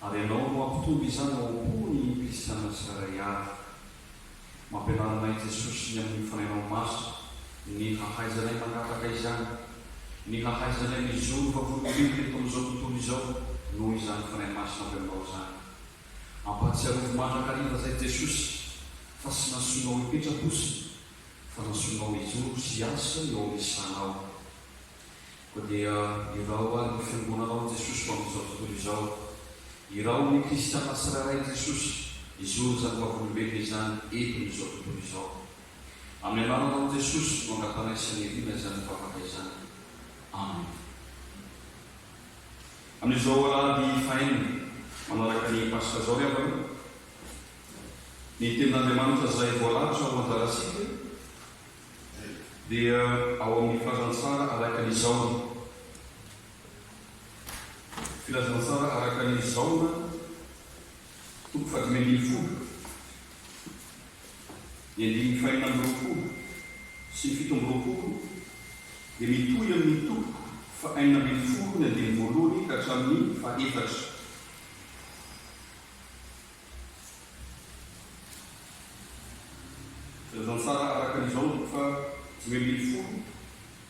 Ary ianao no hampitombo izany ao am-pony ny kristiana tsirairay avy. Mampianara anay Jesosy ny amin'ny fanahinao masina ny hahaizanay mangataka izany, ny hahaizanay mijoro vavolombelona eto amin'izao tontolo izao noho izany Fanahy Masina avy aminao izany. Ampahatsiarovy mandrakariva izay Jesosy fa tsy nasoinao hipetra-bosona fa nasoinao hijoro sy hiasa eo amin'ny sanao. Koa dia irao ary ny Fiangonana ao amin'i Jesosy ho amin'izao tontolo izao. Irao ny Kristiana tsirairay i Jesosy hizoro izany vavolombelona izany eto amin'izao tontolo izao. Amin'ny anaranao Jesosy no angatanay sy aniriana izany vavaka izany. Amena. Amin'izao alahady fahenina manaraka ny Paska izao ry havana, ny Tenin'Andriamanitra izay voalatitra ho anjarantsika, dia ao amin'ny filazantsara araka ny Zaona. Filazantsara araka ny Zaona, toko fahadimy ambin'ny folo, ny andininy fahenina amby roapolo sy ny fito amby roapolo dia mitohy amin'ny toko fahenina ambin'ny folo ny andininy voalohany ka hatramin'ny fahefatra. Azo antsara araka ny izao ny fa dimy ambin'ny folo,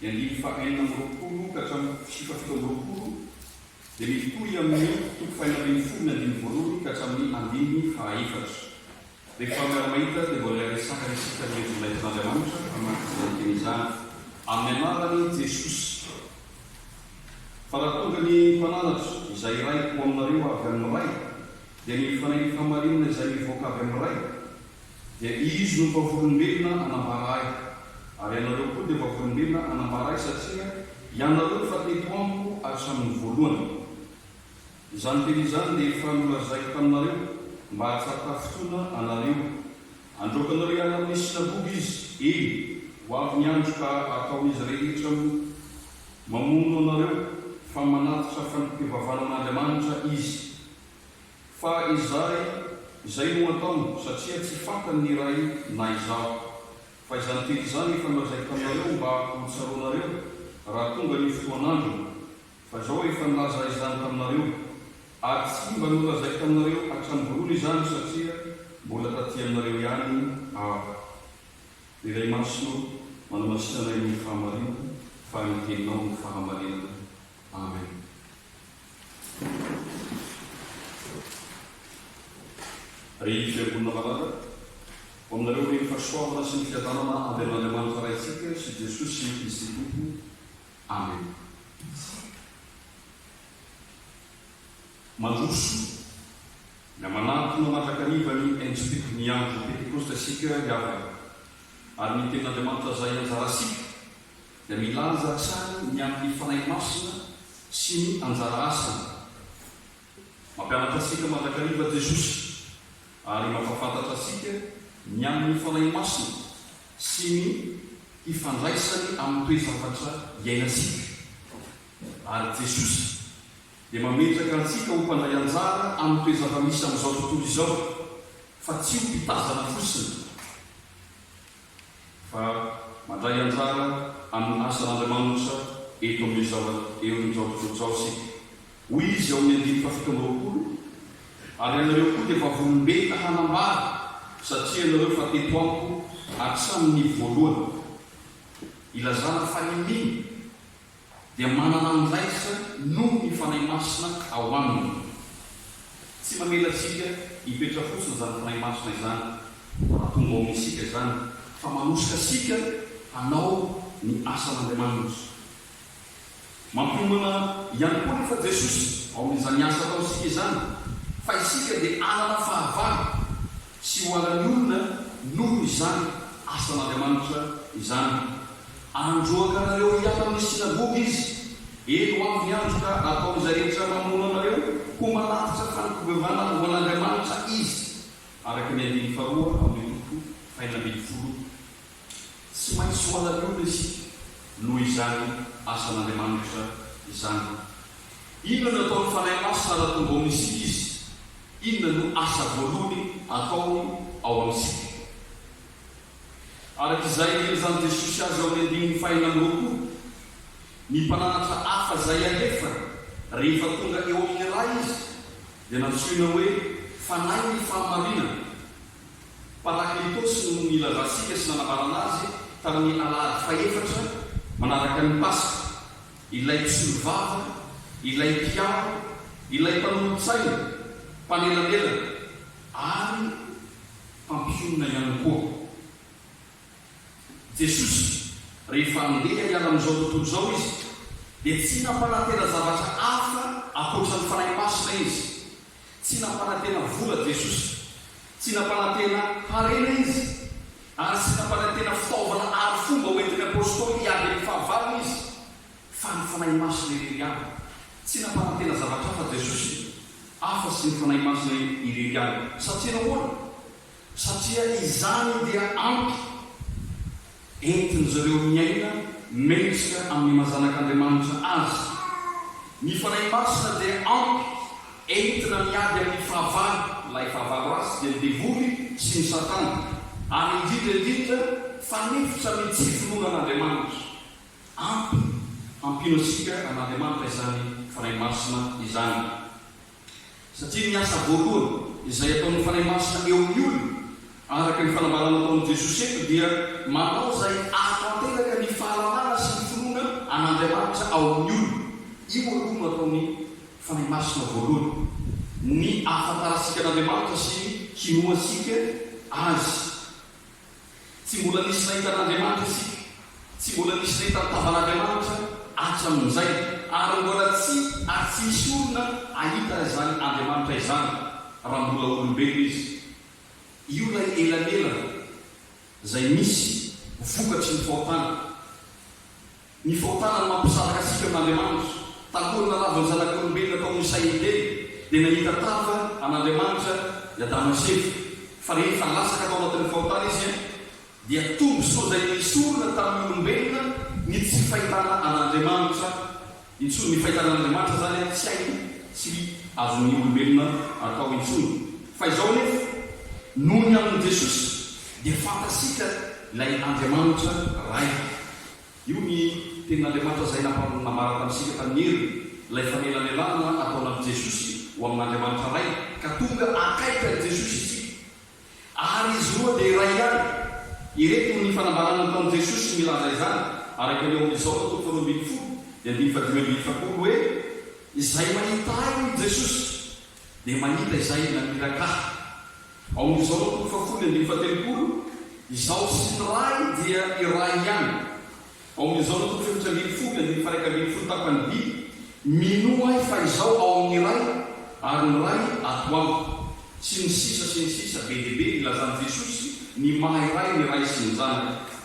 ny andininy faha enina amby roapolo ka hatramin'ny sy faha fito amby roapolo dia mitohy amin' ny toko faha enina ambin'ny folo ny andininy voalohany ka hatramin' ny andininy faha efatra. Rehefa miara-mahita dia mbola hiresahana isika ny heviny naitin' Andriamanitra hamaky izany teny izany. Amin'ny anaran' i Jesosy. Fa raha tonga ny Mpananatra, izay iray ho aminareo avy amin'ny Ray, dia ny fanenitra marinina izay mivoaka avy amin'ny Ray, dia Izy no vavolombelona anambara Ahy, ary ianareo koa dia vavolombelona anambara Ahy, satria ianareo efa teto Amiko hatramin'ny voalohany. Izany teny izany dia efa nolazaiko taminareo, mba hahatsapa fotoana anareo. Androakanareo hiala amin'ny synagoga Izy, eny, ho avy ny andro ka hataon'izy rehetra mamono anareo, fa manatitra fandikan-kivavahana amin'Andriamanitra Izy. Fa izay, izay no ataony, satria tsy fantany ny Ray na Izaho. Fa izany teny izany efa nolazaiko taminareo mba ho tsaroanareo, raha tonga ny fotoan'androny. Fa izao aho efa nilaza izany taminareo. Ary tsy mba nolazaiko taminareo hatramin'ny voalohany izany, satria mbola taty aminareo ihany Aho. Ry Ray Masina ô, manamasinana anay amin'ny fahamarinana, fa ny Teninao no fahamarinana. Amen. Ry Fiangonana malala, ho aminareo ny fahasoavana sy ny fiadanana avy amin'Andriamanitra Raintsika sy Jesosy Kristy Tompo. Amen. Mandroso, na manantona mandrakariva ny Enjpk ny andro Pentekosta isika ry havana, ary ny Tenin'Andriamanitra zahy anjarasika dia milaza hatrany ny amin'ny Fanahy Masina sy ny anjara asany. Mampianatra antsika mandrakariva Jesosy ary mampahafantatra antsika ny amin'ny Fanahy Masina sy ny hifandraisany amin'ny toe-javatra iainantsika. Ary Jesosy dia mametraka antsika ho mpandray anjara amin'ny toe-java-misy amin'izao tontolo izao, fa tsy ho mpitazana fotsiny. fa mandray anjara amin'ny asan'Andriamanitra eto amin'izao eo amin'izao tontolo izao isika. Hoy izy ao amin'ny andininy fahafito amby roapolo, Ary ianareo koa dia vavolombelona hanambara, satria ianareo efa teto amiko hatramin'ny voalohany. Ilazana fa inia. dia manana andraikitra noho ny Fanahy Masina ao aminy. Tsy mamela antsika hipetra fotsiny izany Fanahy Masina izany raha tonga ao amintsika izany fa manosika antsika hanao ny asan'Andriamanitra. Mampiomana ihany koa anefa Jesosy ao amin'izany asa ataontsika izany fa isika dia hanana fahavalo. Tsy ho an'ny olona noho izany asan'Andriamanitra izany. Androaka anareo hiala amin'ny synagoga izy. Eny, ho avy ny andro ka ataon'izay rehetra mamono anareo ho manatitra fankobevana ho an'Andriamanitra izy, araka ny andininy faharoa amin'ny toko fahenina ambin'ny folo. Tsy maintsy ho an'ny olona isika noho izany asan'Andriamanitra izany. Inona no ataon'ny Fanahy Masina raha tonga ao amintsika Izy? Inona no asa voalohany ataony ao amintsika? Araka izay nilazain'i Jesosy azy ao amin'ny andininy fahenina amby roapolo, ny mpananatra hafa izay alefany rehefa tonga eo amin'ny Ray Izy dia nantsoina hoe Fanahin'ny fahamarinana. Parakletos no nilazantsika sy nanambarana azy tamin'ny alahady fahefatra manaraka ny Paska, ilay mpisolovava, ilay mpiaro, ilay mpanolotsaina, mpanelanelana, ary mpampionona ihany koa. Jesosy, rehefa handeha hiala amin'izao tontolo izao Izy, dia tsy nampanantena zavatra hafa ankoatra ny Fanahy Masina Izy, Tsy nampanantena vola Jesosy. Tsy nampanantena harena Izy. Ary tsy nampanantena fitaovana arifomba hoentin'ny Apôstôly hiady amin'ny fahavalony Izy. Fa ny Fanahy Masina irery ihany. Tsy nampanantena zavatra hafa Jesosy, afa-tsy ny Fanahy Masina irery ihany. Satria nahoana? Satria izany dia ampy entin-dry ireo miaina mendrika amin'ny maha zanak'Andriamanitra azy. Ny Fanahy Masina dia ampy entina miady amin'ny fahavalo, ilay fahavalo ratsy dia ny devoly sy ny satana, ary indrindra indrindra fanefitra amin'ny tsy finoana an'Andriamanitra. Ampy hampino antsika an'Andriamanitra izany Fanahy Masina izany. Satria ny asa voalohany izay ataon'ny Fanahy Masina eo amin'ny olona, araka ny fanambarana ataon'i Jesosy eto, dia manao izay ahatanteraka ny fahalalana sy ny finoana an'Andriamanitra ao amin'ny olona. Io aloha no ataon'ny Fanahy Masina voalohany, ny ahafantarantsika an'Andriamanitra sy ny hinoantsika Azy. Tsy mbola nisy nahita an'Andriamanitra isika. Tsy mbola nisy nahita ny tavan'Andriamanitra hatramin'izay, ary mbola tsy ary tsy misy olona hahita izany Andriamanitra izany raha mbola olombelona izy. Io ilay elanelana izay misy vokatry ny fahotana. Ny fahotana no mampisaraka antsika amin'Andriamanitra. Talohan'ny nalavan'ny zanak'olombelona tao amin'ny sain'ny Edena, dia nahita tava an'Andriamanitra i Adama sy Eva. Fa rehefa latsaka tao anatin'ny fahotana izy, dia tombontsoa izay nesorina tamin'ny olombelona ny tsy fahitana an'Andriamanitra intsony. Ny fahitana an'Andriamanitra izany tsy hainy, tsy azon'ny olombelona atao intsony. Fa izao anefa, noho ny amin'i Jesosy, dia fantatsika ilay Andriamanitra Ray. Io ny Tenin'Andriamanitra izay nampanambara tamintsika tamin'ny heriny, ilay fanelanelanana ataonan'i Jesosy ho amin'Andriamanitra Ray, ka tonga akaiky an'i Jesosy isika. Ary izy roa dia iray ihany. Ireto ny fanambarana nataon'i Jesosy milaza izany, araka ny ao amin'ny Jaona toko faharoa ambin'ny folo dia andininy fahadimy ambin'ny efapolo hoe, Izay mahita Ahy, hoy Jesosy, dia mahita Izay naniraka Ahy. Amin'izao ny toko fahafolo ambin'ny fahatelopolo, Izaho sy ny Ray dia iray ihany. Amin'izao ny toko fahefatra ambin'ny folo andininy faha-iraika ambin'ny folo tapany vy, Minoa ahy fa izaho ao amin'ny Ray ary ny Ray ato amiko. Sy ny sisa sy ny sisa Be dia be ny ilazan'i Jesosy ny maha iray ny Ray sy ny Zanaka.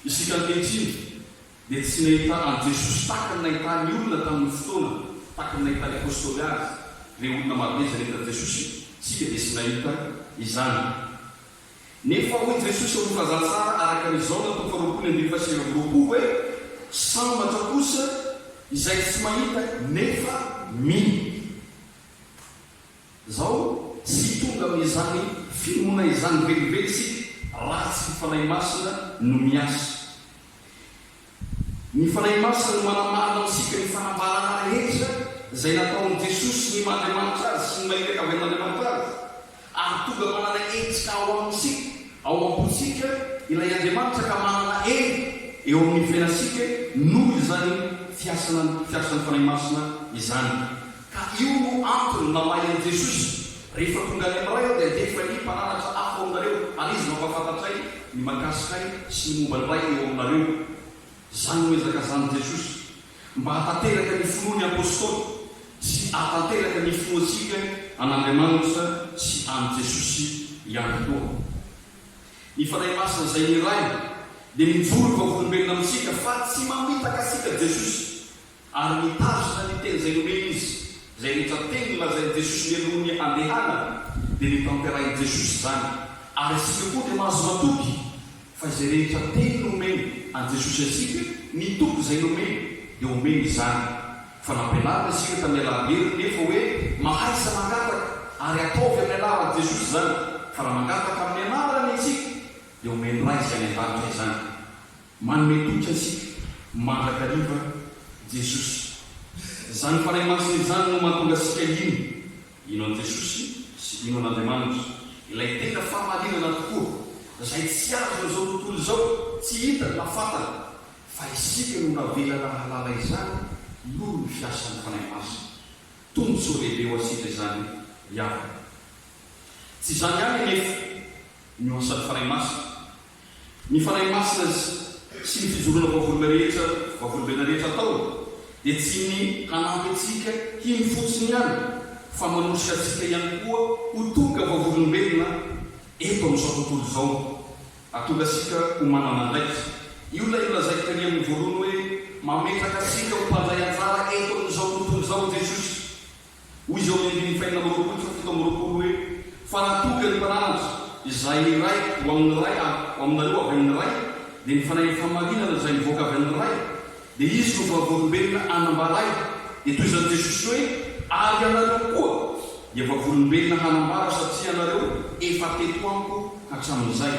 Isika ankehitriny dia tsy nahita an'i Jesosy tahaka ny nahitan'ny olona tamin'ny fotoana, tahaka ny nahitan'ny Apostoly Azy, ireo olona marobe izay nahita an'i Jesosy, isika dia tsy nahita izany. Nefa hoy Jesosy ao amin'ny Filazantsara araka ny Jaona toko faharoapolo ambin'ny fahasivy amby roapolo hoe, Sambatra kosa izay tsy mahita nefa mino. Izao, tsy hitonga amin'izany finoana izany velively isika raha tsy ny Fanahy Masina no miasa. Ny Fanahy Masina no manamarina amintsika ny fanambarana rehetra izay nataon'i Jesosy sy ny maha Andriamanitra Azy sy ny maha Fianakavian'Andriamanitra Azy, ary tonga manana hetsika ao amintsika, ao am-pontsika, ilay Andriamanitra ka manana hery eo amin'ny fiainantsika noho izany fiasana fiasan'ny Fanahy Masina izany. Ka io no antony namaly an'i Jesosy, Rehefa tonga any amin'Ray aho, dia andevo anie mpananatra hafa ao aminareo, ary izy no hampahafantatray ny mahakasika ahy sy ny momba ny Ray eo aminareo. Izany no ezaka azan'i Jesosy, mba hahatanteraka ny finoan'ny Apostoly, sy hahatanteraka ny finoantsika an'Andriamanitra sy an'i Jesosy ihany koa. Ny Fanahy Masina izay ny Ray, dia mijoro ho vavolombelona amintsika, fa tsy mamitaka antsika Jesosy. Ary nitazona ny teny izay nomeny izy. Izay rehetra teny nolazain'i Jesosy mialoha ny handehanany dia notanterahin'i Jesosy izany. Ary isika koa dia mahazo matoky fa izay rehetra teny nomeny an'i Jesosy antsika, ny toky izay nomeny dia omeny izany. Fa nampianarina isika tamin'ny alalan'ny heriny nefa hoe mahaiza mangataka ary ataovy amin'ny anaran'i Jesosy izany. Fa raha mangataka amin'ny anarany isika dia omen'ny Ray izay any an-danitra izany. Manome toky antsika mandrakariva Jesosy. Izany Fanahy Masina izany no mahatonga antsika hino. Hino an'i Jesosy sy hino an'Andriamanitra. Ilay tena fahamarinana tokoa, izay tsy azon'izao tontolo izao, tsy hitany na fantany. Fa isika no navelana hahalala izany noho ny fiasan'ny Fanahy Masina. Tombontsoa lehibe ho antsika izany miavaka. Tsy izany ihany anefa no asan'ny Fanahy Masina, Ny Fanahy Masina sy ny fijoroana vavolombena rehetra vavolombena rehetra atao dia tsy ny hanampy antsika hino fotsiny ihany fa manosika antsika ihany koa ho tonga vavolombelona eto amin'izao tontolo izao. Hahatonga antsika ho manana andraikitra. Io ilay nolazaiko tery amin'ny voalohany hoe mametraka antsika ho mpandray anjara eto amin'izao tontolo izao i Jesosy. Hoy izao ny andininy fahenina amby roapolo sy fahafito amby roapolo hoe, Fa raha toa ka ny Mpananatra, izay iray ho amin' ny Ray ary ho aminareo avy amin' ny Ray, dia ny Fanahin'ny fahamarinana izay mivoaka avy amin' ny Ray, dia Izy no vavolombelona hanambaray, dia toy izany Jesosy hoe, Ary ianareo koa dia vavolombelona hanambara satria ianareo efa teto amiko hatramin'izay.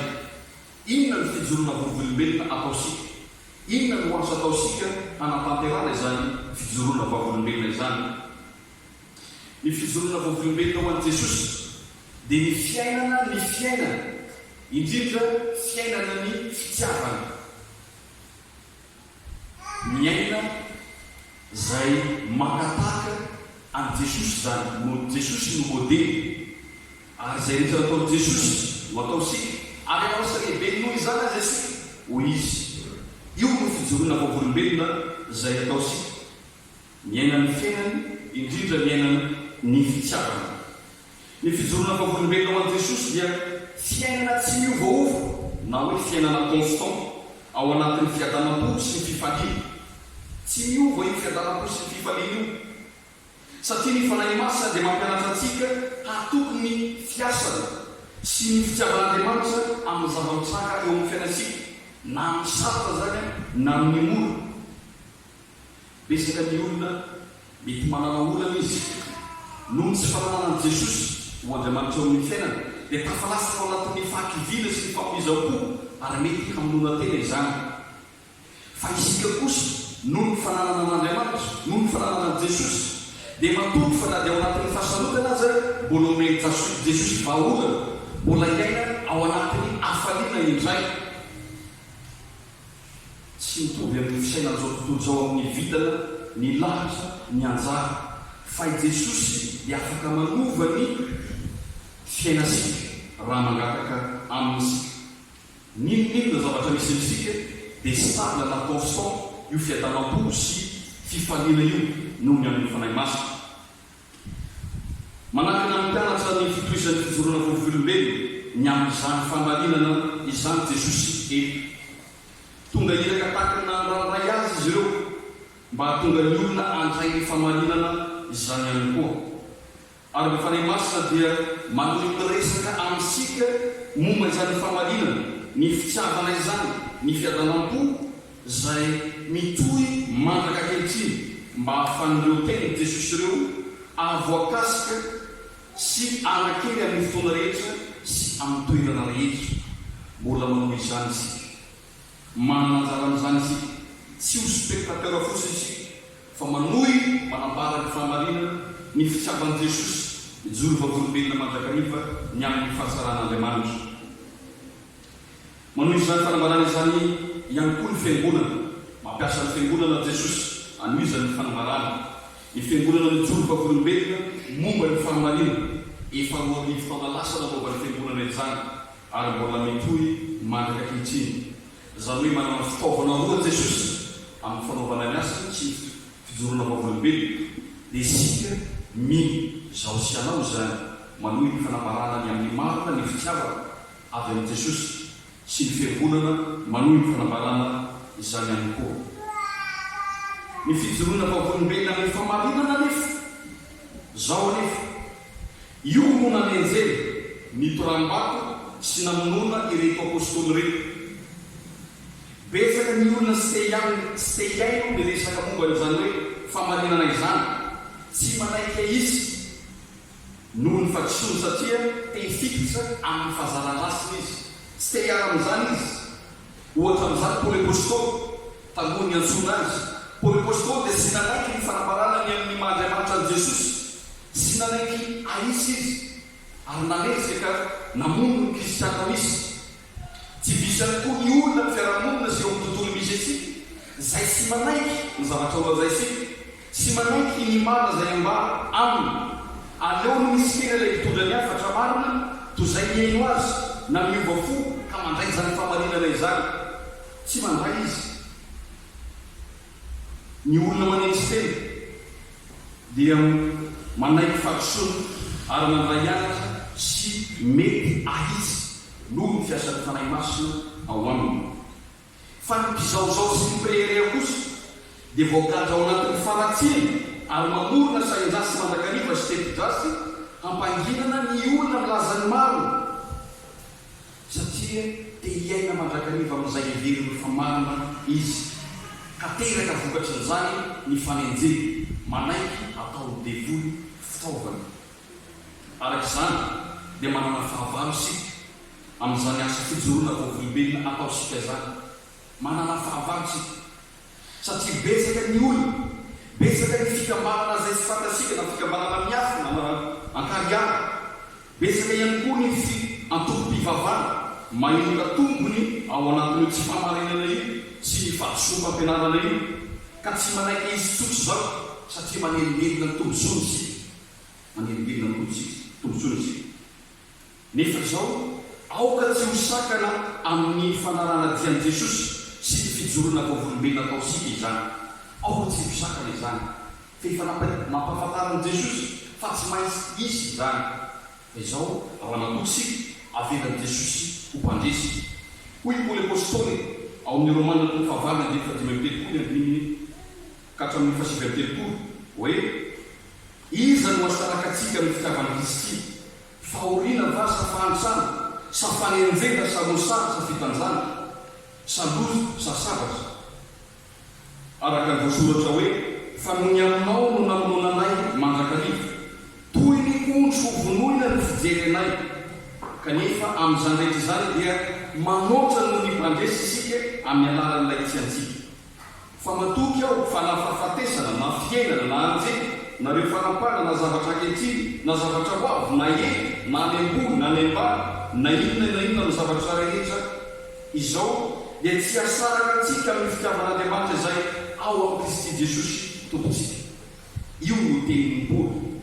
Inona no fijoroana vovolombelona ataosika? Inona no azo ataontsika hanatanterahana izany fijoroana vavolombelona izany? Ny fijoroana vavolombelona ho an'i Jesosy dia ny fiainana ny fiainana, indrindra fiainana ny fitiavana, miaina izay maka tahaka an'i Jesosy izany, Jesosy no modely. Ary izay rehetra nataon'i Jesosy no ataontsika, ary hanao sy lehibe noho izany aza isika, hoy izy. Io no fijoroana vavolombelona izay ataontsika, miaina ny fiainany, indrindra miaina ny fitiavany. Ny fijoroana vavolombelona ho an'i Jesosy dia fiainana tsy miovaova na hoe fiainana constant ao anatin'ny fiadanam-po sy ny fifaliana. Tsy miova io fiadanam-po sy ny fifaliana io. satria ny Fanahy Masina dia mampianatra antsika hatoky ny fiasany sy ny fitiavan'Andriamanitra amin'ny zava-mitranga eo amin'ny fiainantsika, na amin'ny sarotra izany na amin'ny mora. Betsaka ny olona mety manana olana izy noho ny tsy fananana an'i Jesosy ho Andriamanitra eo amin'ny fiainany, dia tafalatsaka ao anatin'ny fahakiviana sy ny famoizam-po ary mety hamonoana tena izany. Fa isika kosa, noho ny fananana an'Andriamanitra, noho ny fananana an'i Jesosy, dia matoky fa na dia ao anatin'ny fahasarotanana aza, mbola omen'i Jesosy vahaolana, mbola hiaina ao anatin'ny hafaliana indray. Tsy mitovy amin'ny fisainan'izao tontolo izao amin'ny vintana, ny lahatra, ny anjara, fa i Jesosy dia afaka manova ny fiainantsika raha mangataka Aminy isika. N'inon'inona zavatra misy amintsika dia stable na constant io fiadanam-po sy fifaliana io noho ny amin'ny Fanahy Masina. Manakana ny mpianatra ny fitohizan'ny fijoroana vovolombelona ny amin'izany famarinana izany Jesosy eto. Tonga iraka tahaka ny nandrandraiy azy izy ireo mba hahatonga ny olona handray ny famarinana izany ihany koa. Ary ny Fanahy Masina dia manohy miresaka amintsika momba izany fahamarinana, ny fitiavana izany, ny fiadanam-po izay mitohy mandraka ankehitriny mba hahafahan'ireo tenin'i Jesosy ireo hahavoakasika sy hanakely amin'ny fotoana rehetra sy amin'ny toerana rehetra. Mbola manohy izany isika. Manana anjara amin'izany isika. Tsy ho spectateurs fotsiny isika, fa manohy manambara ny fahamarinana, ny fitsapan'i Jesosy, mijoro vavolombelona mandrakariva ny amin'ny fahasalahan'Andriamanitra. Manohy izany fanambarana izany ihany koa ny Fiangonana. Mampiasa ny Fiangonana Jesosy hanohizany ny fanambarany. Ny Fiangonana mijoro vavolombelona momba ny fahamarinana. Efa roa arivo taona lasa namoaban'ny Fiangonana izany. ary mbola mitohy mandrika ankehitriny, izany hoe manana fitaovana roa Jesosy amin'ny fanaovana ny asany sy ny fijoroana vavolombelona, dia isika mino, izaho sy ianao izany, manohy ny fanambarana ny amin'ny marina ny fitiavana avy amin'i Jesosy sy ny Fiangonana manohy ny fanambarana izany ihany koa. Ny fijoroana vavolombelona amin'ny fahamarinana anefa, izao anefa, Io no nanenjehina, nitoram-bato sy namonoana ireto Apôstôly ireto. Betsaka ny olona tsy te hihaino ny resaka momba an'izany hoe famarinana izany. Tsy manaiky ahitsy noho ny fadisoany satria te hifikitra amin'ny fahazaran-drasiny izy. Tsy te hiara amin'izany izy. Ohatra amin'izany Paoly Apôstôly, talohan'ny niantsoana azy. Paoly Apôstôly dia tsy nanaiky ny fanambarana ny amin'ny maha Andriamanitra an'i Jesosy Tsy nanaiky Aisa izy, ary nanezaka namono ny Kristiana misy. Tsy vitsy ihany koa ny olona amin'ny fiarahamonina sy eo amin'ny tontolo misy antsika izay tsy manaiky ny zavatra nolazaintsika, tsy manaiky ny marina izay ambara aminy. Aleony mitsikera ilay mpitondra ny hafatra marina toy izay mihaino azy na miova fo ka mandray izany fahamarinana izany. Tsy mandray izy. Ny olona manetry tena dia manaiky fahadisoana ary mandray anatra sy mety ahitsy noho ny fiasan'ny Fanahy Masina ao aminy. Fa ny mpizaozao sy ny mpirehareha kosa dia voagadra ao anatin'ny fanatsiny ary mamorona sahin-dratsy mandrakariva sy tepi-dratsy hampanginana ny olona milaza ny marina. satria te hiaina mandrakariva amin'izay heverin'ny famarana izy, ka teraka vokatrin'izany ny fanenjehana, manaiky hataon'ny devoly fitaovana. Araka izany, dia manana fahavalo isika amin'izany asa fijoroana vao-volombelona ataontsika izany. Manana fahavalo isika satria betsaka ny olana, betsaka ny fikambanana izay tsy fantatsika na fikambanana miafina na an-kariary, betsaka ihany koa ny antokom-pivavahana mahenoka tombony ao anatin'io tsi-pahamarinana io sy ny fahadisoam-pampianarana io ka tsy manaiky izy tsotra izao satria manelingelina ny tombontsoany isika, manelingelina ny tombontsoany isika. Nefa izao, aoka tsy ho sakana amin'ny fanaraha-natian'i Jesosy sy ny fijoroana vavolombelona ataontsika izany. Aoka tsy ho sakana izany, fa efa nampahafantarin'i Jesosy fa tsy maintsy hisy izany. Fa izao, ao anakoho isika, avelan'i Jesosy ho mpandresy. Hoy Paoly Apostoly ao amin'ny Romana toko fahavalo andininy fahadimy amby telopolo, andininy ka hatramin'ny fahasivy amby telopolo, hoe, Iza no hasaraka antsika amin'ny fitiavan'i Kristy? Fahoriana va sa fahantrana, sa fanenjehana sa mosary sa fitanjana, sa loza sa sabatra? Araka ny voasoratra hoe, Fa nony aminao no namonoana anay mandrakariva, toy ny ondry hovonoina no fijery anay, kanefa amin'izany rehetra izany dia manoatra noho ny mpandresy isika amin'ny alalan'ilay tsy antsika. Fa matoky aho fa na fahafatesana, na fiainana, na anjely, na ireo fanapahana, na zavatra ankehitriny, na zavatra ho avy, na ela, na any am-boa, na any am-bava, na inona na inona amin'ny zavatra rehetra izao, dia tsy hahasaraka antsika amin'ny fitiavan'Andriamanitra izay ao amin'i Kristy Jesosy Tompontsika. Io no tenin'i Paoly,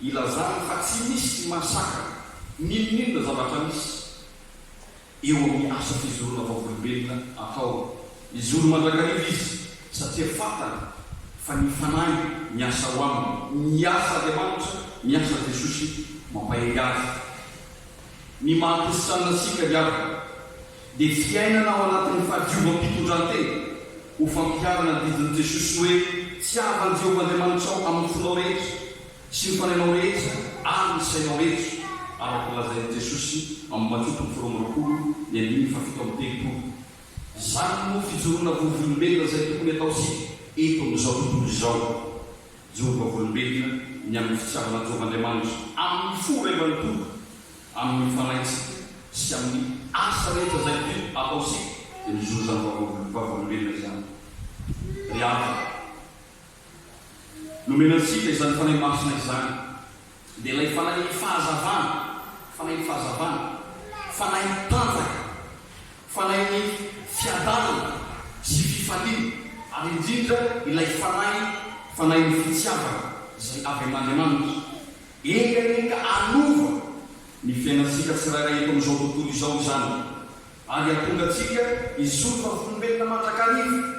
ilazany fa tsy misy mahasakana n'inon'inona zavatra misy. eo amin'ny asa fijoroana vavolombelona atao. Mijoro mandrakariva izy satria fantany fa ny Fanahy miasa ao aminy. Miasa Andriamanitra, miasa Jesosy mampahery azy. Ny maha kristiana antsika ry havana dia fiainana ao anatin'ny fahadiovam-pitondran-tena ho fampiharana ny didin'i Jesosy hoe, Tiavan'i Jehovah Andriamanitrao amin'ny fonao rehetra, Tsy ny fanahinao rehetra ary ny sainao rehetra, araka ny lazain'i Jesosy amin'ny Matio toko faharoa amby roapolo ny andininy fahafito amby telopolo. Izany no fijoroana vovolombelona izay tokony hataontsika eto amin'izao tontolo izao. Mijoro vavolombelona ny amin'ny fitiavanan'i Jehovah Andriamanitra, amin'ny fo iray manontolo, amin'ny fanahintsika sy amin'ny asa rehetra izay toy ataontsika dia mijoro izany vavolombelona izany. Ry havana. Nomena antsika izany Fanahy Masina izany, dia ilay Fanahin'ny fahazavana, Fanahin'ny fahazavana, Fanahin'ny tanjaka, Fanahin'ny fiadanana sy fifaliana, ary indrindra ilay Fanahy, Fanahin'ny fitiavana izay avy amin'Andriamanitra. Eny anie ka hanova ny fiainantsika tsirairay eto amin'izao tontolo izao izany, ary hahatonga antsika hisoroka volombelona mandrakariva.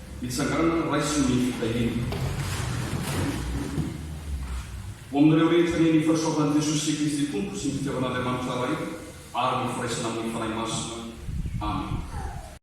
Mitsangàna raiso ny fitahiana. Ho amin'ireo rehetra nihaino ny fanisoavan'i Jesosy sy Kristy Tompo sy ny fitiavan'Andriamanitra Ray ary ny firaisana amin'ny Fanahy Masina. Amena.